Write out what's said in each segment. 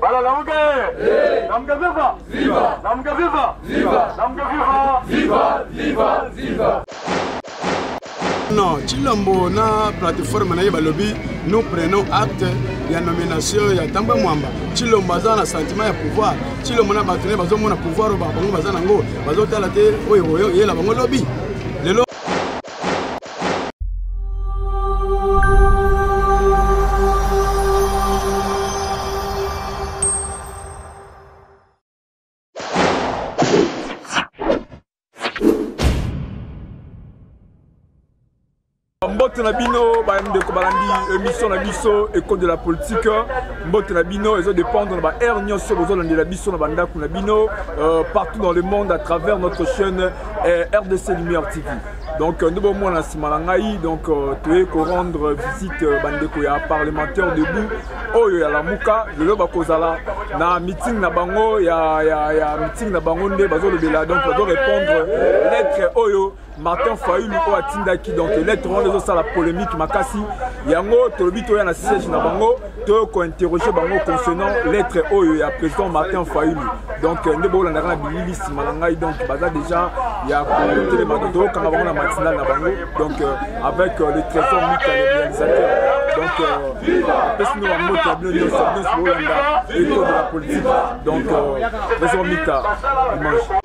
Bala lamuke! Lamuke viva! Viva! Lamuke viva! Viva! Lamuke viva! Viva! Viva! Viva! Non, Chilombo na plateforme na ye balobi nous prenons acte ya nomination ya Tamba Mwamba. Chilombo aza na sentiment ya pouvoir. Chilombo na bato ne bazomona pouvoir oyo bango baza nango bazotala te oyo oyo yela bango lobi. mbote na bino bandeko balandi émission na biso école de la politique mbote na bino ezo dépendre na ba aire nyonso bozolandela biso na bandako na bino euh, partout dans le monde à travers notre chaîne euh, rdc lumière tv donc nde bomona na nsima na ngai donc euh, toye korendre visite euh, bandeko ya parlementaire debout oyo ya lamuka lelo bakozala na meeting na bango ya, ya, ya meeting na bango nde bazolobela donc bazorépondre lettre oyo martin fayulu oyo atindaki donc lettre wana ezosala polémique makasi yango tolobi toya na siège na bango to kointerroge bango concernant lettre oyo ya président martin fayulu donc euh, nde bolandaka na bilili nsima na ngai donc baza déjà ya kotelema donc tokokanga bango na matinale na bango donc euh, avec euh, le trésor mika le réalisateur donc apesi no bambote ya bino nyonso nyonso bolanda ecole de la politique donc trésor mika dimanche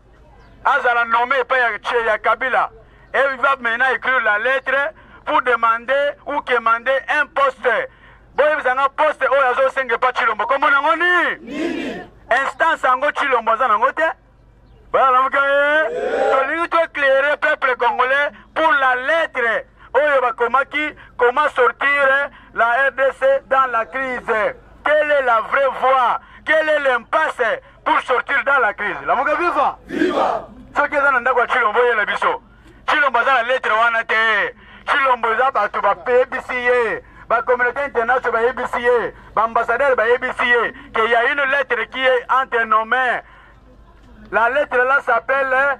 azala nommé epai ya chez ya Kabila et il va maintenant écrire la lettre pour demander ou quemander un poste boyebisa nga poste oyo azosenga epa Tshilombo kombo nango nini instance yango Tshilombo aza nango te balamuka ye tolingi toeclaire peuple congolais pour la lettre oyo bakomaki comment sortir la RDC dans la crise quelle est la vraie voie quelle est l'impasse pour sortir dans la crise lamuka viva viva soki eza na ndako ya chilombo yela biso chilombo aza na lettre wana te chilombo eza bato bapebisi ye bacommunauté international bayebisi ye baambassadeur bayebisi ye ke ya une lettre qui est entre nos mains la lettre là s'appelle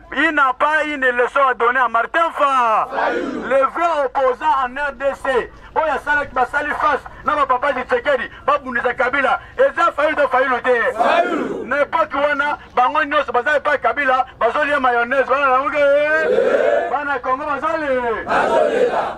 Il n'a pas une leçon à donner à Martin Fa, le vrai opposant en RDC. oyo asalaki basali face na bapapa tshisekedi babundisa kabila eza fayulu to fayulu te na epoki wana bango nyonso baza epai kabila bazolia mayonnaise bana nango bana congo bazolela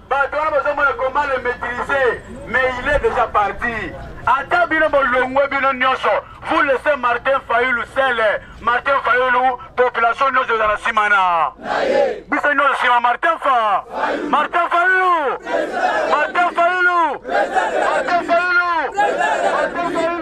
Bato wana bozomona comment le maîtriser mais il est déjà parti. Ata bino bolongwe bino nyonso vous laissez Martin Fayulu seul. Martin Fayulu population nyonso ezala nsima na biso nyonso nsima Martin Fa Martin Fayulu Martin Fayulu Martin Fayulu Martin Fayulu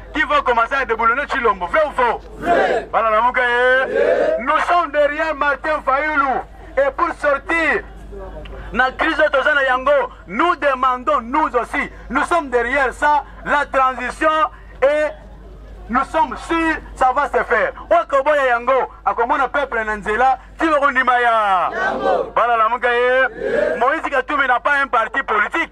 qui vont commencer à déboulonner Chilombo. Vrai ou faux Nous sommes derrière Martin Fayoulou. Et pour sortir, la crise de Yango, nous demandons, nous aussi, nous sommes derrière ça, la transition et nous sommes sûrs ça va se faire okoboya yango akomona peuple na nzela ti bakondima ya bana lamuka ye moïse katumbi na pas un parti politique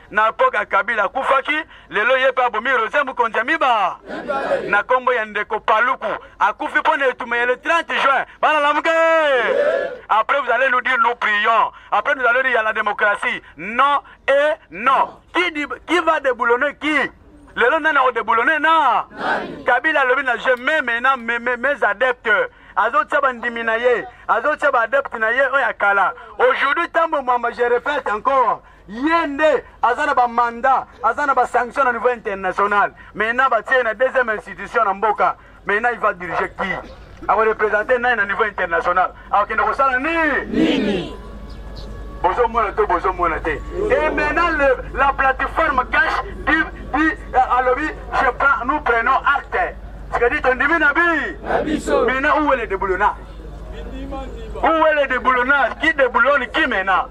na epoka kabila akufaki lelo ye mpe abomi roger mokonzi ya miba na nkombo ya ndeko paluku akufi mpo na etumba ya le 30 juin bana lamuke après vous allez nous dire nous prions après nous allons dire ya la démocratie non et non qui, dit, qui va déboulonner qui lelo nani akodeboulone na kabila alobi na je meme na mes adeptes azotia bandimi na ye azotia baadepte na ye oyo ya kala aujourd'hui ntango mwamba je répète encore ye nde aza na bamanda aza na basanction na niveau international maintenant batie na deuxième institution na mboka maintenant il va diriger qui akorepresente nani na niveau international akokende kosala nini bozomona to bozomona te et maintenant le, la plateforme cash di, di, euh, alobi je prends nous prenons acte c'est-à-dire tondimi na bi maintenant où est le déboulonnage où est le déboulonnage qui déboulonne qui maintenant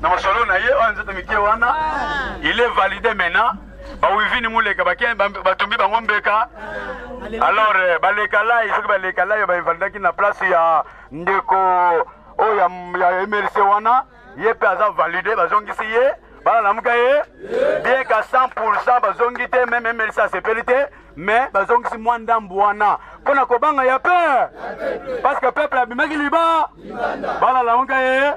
na masolo na ye oyo nzoto mike wana il est valide maintenant bawivini muleka batumbi bango mbeka alors euh, baleka lai soki baleka lai bainvalidaki na place ya ndeko oyo oh, ya emerse wana ye mpe aza valide bazongisi ye bana lamuka ye bien ka 100 bazongi te meme emerse asepeli te me bazongisi mwa ndambu wana mpo na kobanga ya pe parceke peple abimaki liba balala moka ye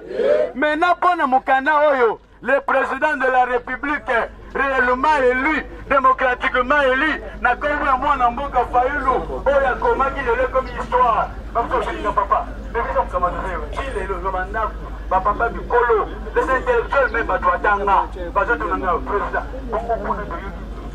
me na mpo na mokanda oyo le président de la république réellement élu démocratiquement élu na kombo ya mwana mboka fayulu oyo akomaki lelo ekomi histoire bakosolinga papa ebisokamatoeo ti lelo ozo bandako bapapa bikolo les intellectuels me bato atanga bazotuna nga président bongo kuna toyoki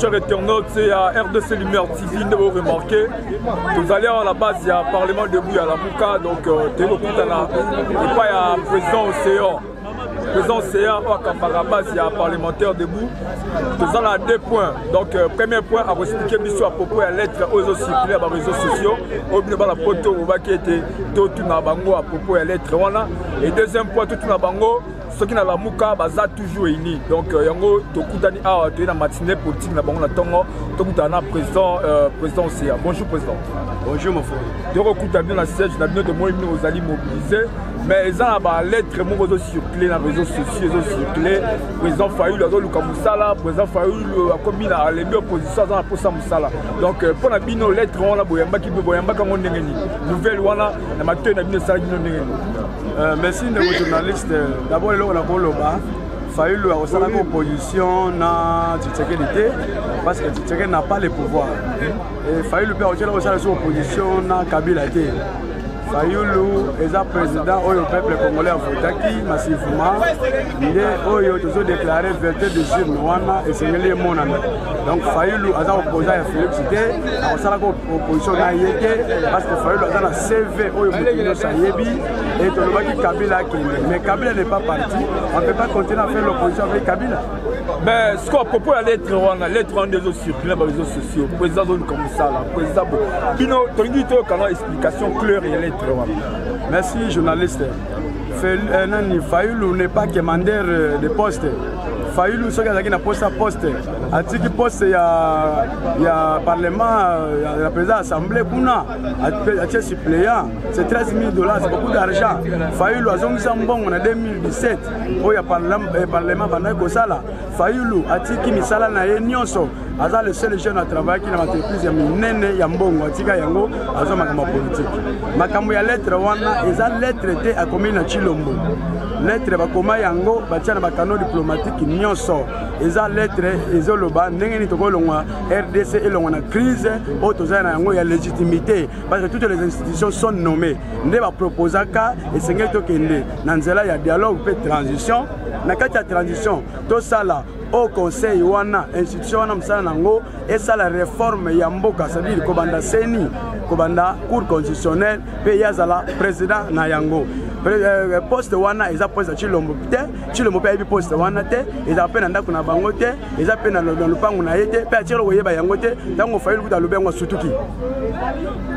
Chers internautes ya RDC Lumière TV nde boremarke tozali awa na base ya parlement debout ya lamuka donc euh, toyei kokutana epai ya président océan président océan oyo akambaka base ya parlementaire debout toza na deux points donc euh, premier point akoexplike biso ya propos ya lettre oyo ezocircule ya bareseau sociaux oyo bino bana poto olobaki ete totuna bango ya propos ya lettre wana et deuxième point totuna bango soki na lamuka baza toujours unis donc euh, yango tokutani awa toye na matinée politique na bango na ntongo tokutana na président euh, président oseya bonjour président bonjour mon frère tokokuta bino na siège na bino tomoni bino ozali mobilise mais eza na balettre moko ezocircule na réseau sociaux ezocircule président fayulu azoluka mosala président fayulu akomi na alembi opposition aza na mposa mosala donc euh, mpo na bino lettre wana boyambaki boyambaka yango ndenge nini nouvelle wana na matoi na bino esalaki bino ndenge nini Euh, merci ndeko journaliste d'abord eloko na koloba fayulu akosalaki opposition na tshisekedi te parce que tshisekedi na pas le pouvoir fayulu mpe akotyela kosala so opposition na kabila te fayulu eza président oyo peuple congolais avotaki massivement nde oyo tozodeklare verte de jurne wana esengeli emonana donc fayulu aza kopoza ya félix te akosalaka opposition na ye te parce que fayulu aza na cv oyo moto nyonso ayebi e tolobaki kabila akende mais kabila n'est pas parti on peut pas continuer à faire l'opposition avec kabila mais ce qu'on propose ya lettre wana lettre wana nde ezocircule na bareseau sociaux président azoluka mosala président bo bino tolingi toyokana explication claire ya lettre wana merci journaliste euh, nani fayulu n'est pas commander euh, de poste fayulu soki azalaki na poste ya poste atiki poste ya, ya parlement ya, ya président assemblée kuna atie suppléant c'est 13 000 dollars c'est beaucoup d'argent fayulu azongisa mbongo na 2017 oyo ya eh, parlement bandaki kosala fayulu atiki misala na ye nyonso aza le seul jeune atravaillaki na baentreprise ya minene ya mbongo atika yango aza makambo ya politike makambo ya lettre wana eza lettre te akomi na chilombo lettre bakoma yango batia na bakano diplomatike nyonso eza lettre ezoloba ndenge nini tokolongwa rdc elongwa na crise oyo tozali na yango ya légitimité parce que toutes les institutions sont nommées nde baproposaka esengeli tokende na nzela ya dialogue mpe transition na kati ya transition tosala au conseil wana institution wana mosala na yango esala reforme ya mboka cestadire kobanda seni kobanda cour constitutionnelle mpe ye azala président na yango euh, poste wana eza poste ya tshilombo te cilombo mpe ayebi poste wana te ezala mpe na ndako na bango te eza mpe na lopango na ye te mpe atiro koyeba yango te ntango ofai lokuta alobi yango asutuki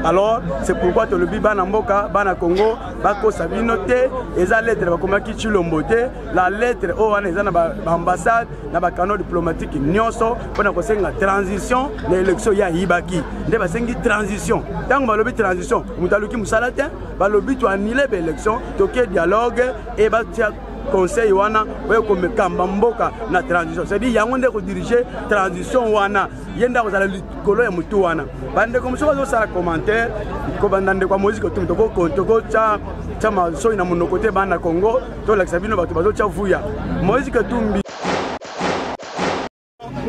alors c'est pourquoi tolobi bana mboka bana congo bakosa bino te eza lettre bakomaki cilombo te la lettre oyo wana eza na baambassade na bacanal diplomatique nyonso mpo na kosenga transition na élection ya ayibaki nde basengi transition ntango balobi transition moto aluki mosala te balobi to annule ba élection toke dialogue et batia conseil wana oye komekamba mboka na transition cestadire yango nde kodirige transition wana ye nde akozala likolo ya motu wana bandeko mosusu bazosala commentaire kobanda ndeko ya moïse kotum tokotya tya masoi na monoko te bana congo tolakisa bino bato bazotya vuya moïse katumbi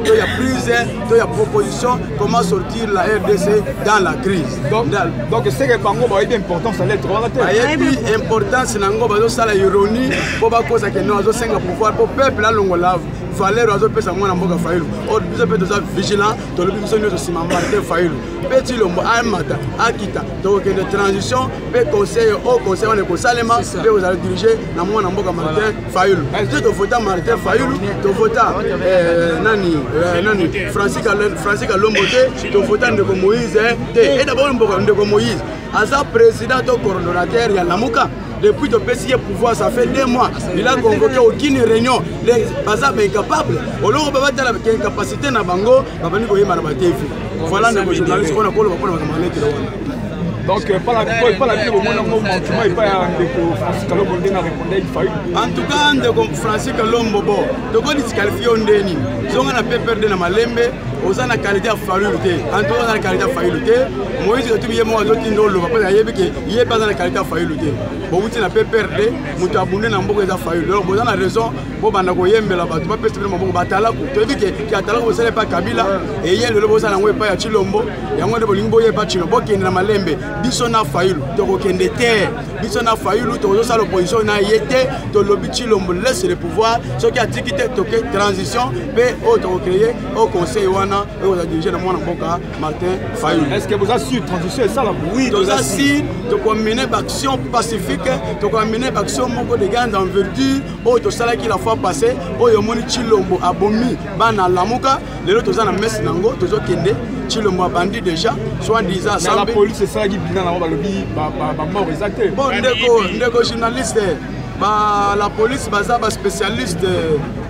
Il y a prise, il y a proposition, comment sortir la RDC dans la crise. Donc, donc c'est que Bango va être important, ça l'être. Il y a importance, Nango va faire la ironie, pour pas cause que nous avons 5 pouvoir, pour peuple à l'ongolave. valeur azopesa mwana mboka fayulu oyo biso mpe toza vigilant tolobi biso nyonso nsima martin fayulu mpe tilombo amata akita tokokende transition mpe conseil o conseil wana ekosalema mpe kozala dirige na mwana mboka martin fayulu nde tovota martin fayulu tovota eh, nani eh, nani francis kalombo te tovota ndeko moïse eh, te eda baoyo mboka ndeko moïse aza président to coordonnateur ya lamuka depuis topesi ye pouvoir ça fait deux mois il a convoqué aucune réunion baza baincapable oloko babatala incapacité na bango babandi koyebana batefi Voilà ndeko journaliste mpona koloba mpona makambo ya letele wana donc euh, epai na bino bomona yango montuma epai ya ndeko francis kalombo nde na répondai fayu en tout cas ndeko francis kalombo bo toko disqualifie yo nde nini zonga na ppr nde na malembe oza na kalite ya fayulu te en tout cas oza na kalite ya fayulu te moïse otubi ye moko azotinda oloba mpo ayebi ke ye mpe aza na kalite ya fayulu te bowuti na ppr nde moto abunde na mboka eza fayulu donc boza na raison bobanda koyembela bato bapesa bino maboko batalaku toyebi ke ke atalaku bosala epa kabila eye lelo bozala yango epai ya chilombo yango nde bolingi boye epa chilombo bokende na malembe biso na fayulu tokokende te biso na fayulu tokozosala opposition na ye te tolobi chilombo laisse le pouvoir soki atiki te toke transition mpe oyo tokocreye au conseil wana oyo oza dirige na mwana mboka martin fayulu est ce que boza sur transition esala oui toza sur tokomine baaction pacifique tokomine baaction moko de grande enverture oyo tosalaki la fois passé oyo omoni chilombo abomi bana lamuka lelo toza na messe na yango tozokende chilombo abandi déjà soit disant asambe police esalaki bina na yango balobi bamoko eza te bon ndeko ndeko journaliste ba la police baza ba spécialiste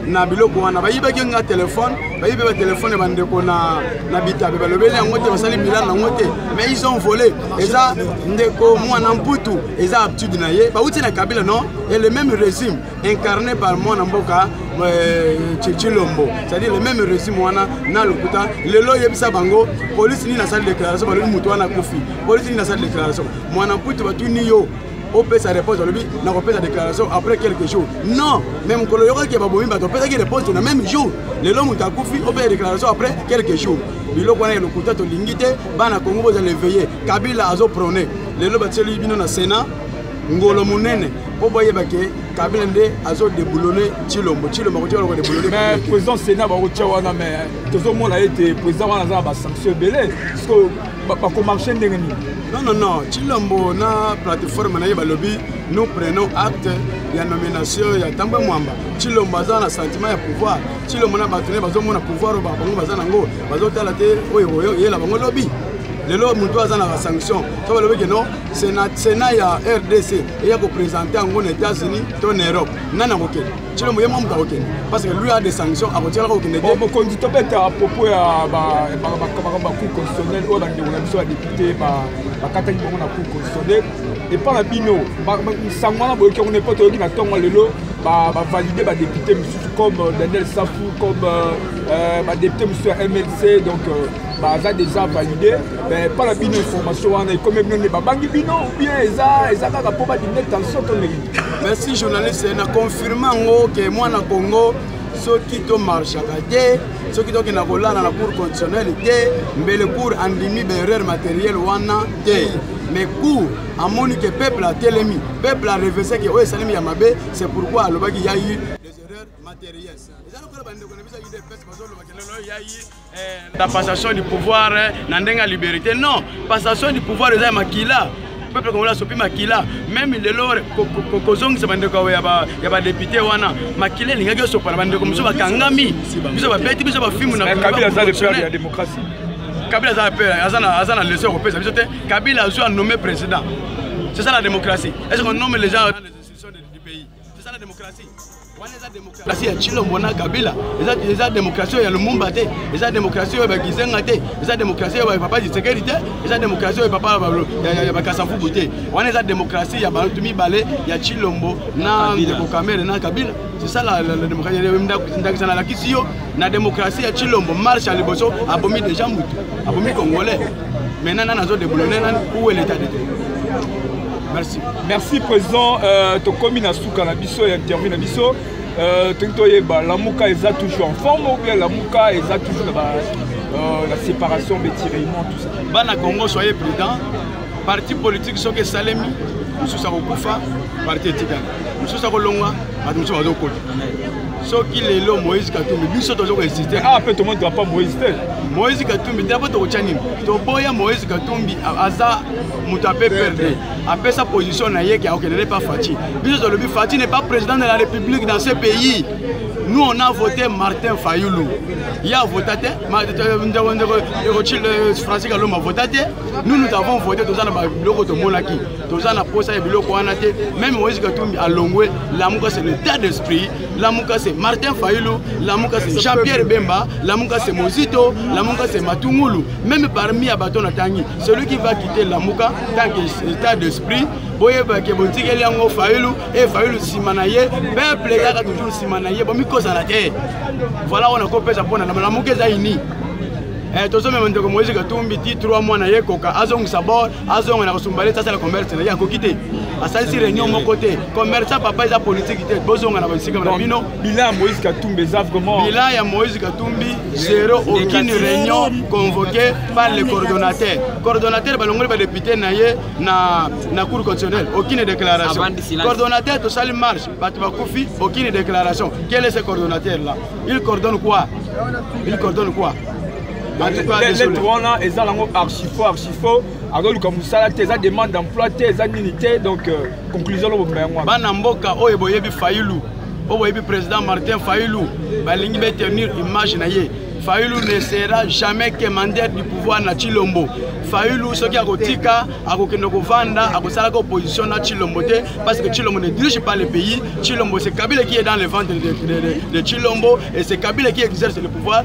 na biloko wana bayibaki nga telefone bayibi ba telefone ya bandeko na, na bitabe balobeli yango te basali bilana yango te mais ils ont volé eza ndeko mwana mputu eza habitude na ye bauti na kabila non et le même régime incarné par mwana mboka euh, chilombo c'est-à-dire le même régime wana na lokuta lelo oyebisa bango polisi nini asali déclaration balobi moto wana akufi polisi nini asali déclaration mwana mputu batuni yo opesa réponse alobi nakopesa déclaration après quelques jours non mais mokolo yokaki babomi bato opesaki réponse na même jour lelo moto akufi opesa déclaration après quelques jours biloko wana ya lokuta tolingi te bana kongo bozala eveille kabila azoprone lelo batieli bino na sénat ngolo monene mpo boyeba ke kabila nde azo deboulone cilombo cilombo akotia loko deboulone mais président sénat bakotia wana mais tozomona ete président wana aza na basanction ebele sikoyo bakomarche ndenge nini non non non cilombo na plateforme na ye balobi nous prenons acte ya nomination ya tambwe mwamba cilombo aza na sentiment ya pouvoir cilombo na bato ne bazomona pouvoir oyo bango baza nango bazotala te oyo yela bango lobi lelo moto aza na basanction to balobi ke non senat sena ya rdc eya kopresente yango na états-unis to na europe nani akokende cilombo ye mwa moto akokende parce que lui a des sanctions akotikalaka kokende te mokonzi tobeta propos ya bacour constitutionnel oyo bandeko na biso ya député bakataki bango na cour constitutionnel epa na bino nsango wana boyoki yango nepo toyoki na ntongo lelo bavalide badepute mosusu comme daniel safu comme euh, euh, badepute mosusu ya mlc donc euh, baza deja valide mais epa na bino information wana ekomi bino nde babangi bino bien eza eza kaka mpo badimine tension to nini merci journaliste na confirme yango ke mwana congo soki tomarchaka te soki tokenda kolala na cour constitutionnel te mbele cour andimi baerreur matériel wana te mais cour amoni ke peuple atelemi peuple arevese ke oyo esalemi ya mabe c'est pourquoi alobaki ya eu des erreurs matérielles eza lokola bandeko na biso ya udps bazolobaka lelo ya ye la passation du pouvoir na ndenge ya liberté non passation du pouvoir eza ya makila peuple congolais asopi makila meme lelo kozongisa bandeko ya badepute wana makila elingaki osopana bandeko mosusu bakangami biso babeti biso bafimu na kabila aza le père ya démocratie kabila aza père aza na leso ya kopesa biso te kabila azwi anome président c'est ça la démocratie est ce qu'on nomme les gens tosala demokrasi wana eza demokrasi ya chilombo na kabila eza, eza demokrasi oyo ya lumumba te eza demokrasi oyo ya bakizenga te eza demokrasi oyo ya papa lisekeli te eza demokrasi oyo papa ya bakasavubu te wana eza demokrasi ya bato mibale ya chilombo na ndeko kamere na kabila sisala ndakisa nalakisi yo na demokrasi ya chilombo marche ya liboso abomi deja motu abomi congolais maintenant nana azodeboulone nani uwe leta de te Merci. Merci président euh, tokomi na suka na biso ya interview na biso euh, toki toyeba lamuka eza toujours en forme ou bien lamuka eza toujours na ba euh, la séparation betiraillement tout ça bana congo soyez prudent parti politique soki esalemi mosusu akokufa parti etikala mosusu akolongwa bato mosusu bazokota soki lelo moïse katumbi biso tozo koexiste ah, mpe tomoni drapa moïse te moïse katumbi drapo tokotya nini toboya moïse katumbi aza moto ape perdre apesa position na ye ke akokende ne pa fati biso tolobi fati n'est pas président de la république dans ce pays nous on a voté martin fayulu ye avota te francis kalombo avota te nous nous avons voté toza na biloko tomonaki toza na mposa ya biloko wana te meme moïse katumbi alongwe lamuka c'est l'état d'esprit Lamuka c'est Martin Fayulu, Lamuka c'est Jean-Pierre Bemba, Lamuka c'est Mozito, Lamuka c'est Matungulu. Même parmi Abaton Natangi, celui qui va quitter Lamuka, tant que état d'esprit, boyeba ke botikeli yango fayulu e fayulu nsima na ye peuple ezalaka toujours nsima na ye bomikozala te voilà oyo nakopesa mpona na malamuka eza ini eh, tozomema ndeko moise katumbi ti 3 mwana ye koka azongisa bor azonga na kosumbale te asala commerce na ye akoki te asalisi réunion moko te commerce ya papa eza politiki te bozonga na baesika na bino bilan ya moïse katumbi eza vraiment bilan ya moïse katumbi zero aucune réunion convoqué par le coordonnateur coordonnateur balongoli badepute na ye na, na cour constitutionnelle aucune déclaration coordonnateur tosali marche bato bakufi aucune déclaration quel est ce coordonnateur là il coordonne quoi il coordonne quoi lettre wana eza nango archifo archifo azoluka mosala te eza demande d'emploi te eza nini te donc euh, conclusion lobomba yango wana bana mboka oyo boyebi fayulu oyo boyebi président martin fayulu balingi betenir image na ye fayulu ne sera jamais quémandeur du pouvoir na chilombo fayulu soki akotika akokende kovanda akosalaka opposition na chilombo te parce que chilombo ne dirige pas le pays chilombo c'est kabila qui est dans le ventre de, de, de, de chilombo et c'est kabila qui exerce le pouvoir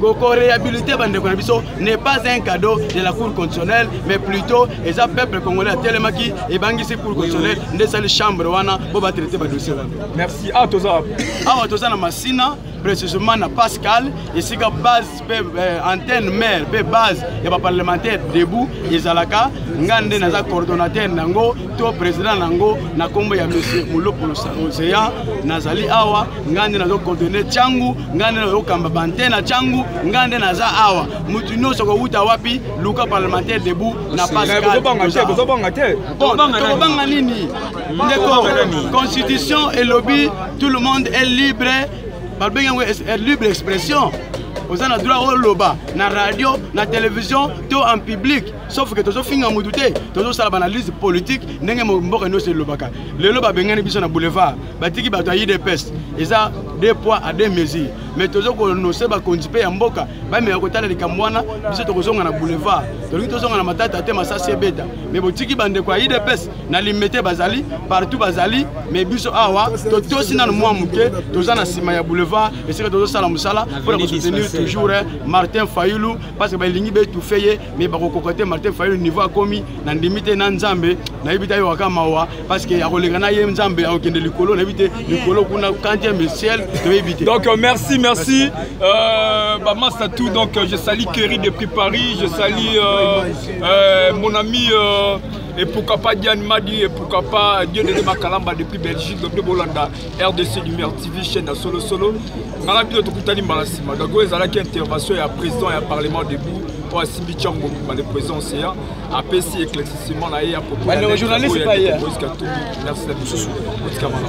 koko rehabilite bandeko na biso n'est pas un cadeau de la cour constitutionnelle mais plutôt eza peuple congolais atelemaki ebangisi cour constitutionnelle nde esali chambre wana mpo batraite badossier wana merci awa ah, toza awa ah, toza na masina précisément na pascal esika base mpe euh, antenne mare mpe base ya baparlementaire debout ezalaka ngai nde naza coordonnateur na yango to président na yango na nkombo ya monsieur molopo océan nazali awa ngai nde nazo coordonne ntango ngai nde nazokamba bantena ntango ngai nde naza awa motu nyonso kowuta wapi luka parlementaire debout na pascaltobanga eh, nini ndeko constitution elobi tout le monde est libre balobenge yango libre expression oza na droit oloba na radio na télévision to en public sauf ke tozofinga motu te tozosala banalyse politique ndenge mboka nyonso elobaka lelo babengani biso na boulevard batiki bato ya idps eza deux poids à deux mesure mais tozo konose bakonzi mpe ya mboka bameka kotala likambo wana biso tokozonga na boulevard tolingi tozonga na matata te masasi ebeta mais botiki bandeko ya idps na limete bazali partout bazali mais biso awa totosi nano mwa moke toza na nsima ya boulevard esika tozosala mosala mpo na kosoutenir toujours eh, martin fayulu parce que balingi betufe ye mais bakokoka te martin fayulu niveau akomi na ndimi te na nzambe nayebi ta yokaka mawa parce que akoleka na ye nzambe akokende likolo nayebi te likolo kuna kantieme ciel toyebi te donc euh, merci merci euh, bamasta tout donc euh, je sali keri depuis paris je sali euh, euh, mon ami euh, et pourquoi pas Diane Madi et pourquoi pas Dieu de Makalamba depuis Belgique donc de Bolanda RDC Lumière TV chaîne à solo solo ngala bino tokutani mbala nsima donc oyo ezalaki intervention ya président ya parlement debout oyo asimbi tiango mobimba le président océan apesi éclaircissement na ye ya propos mosusu otikamana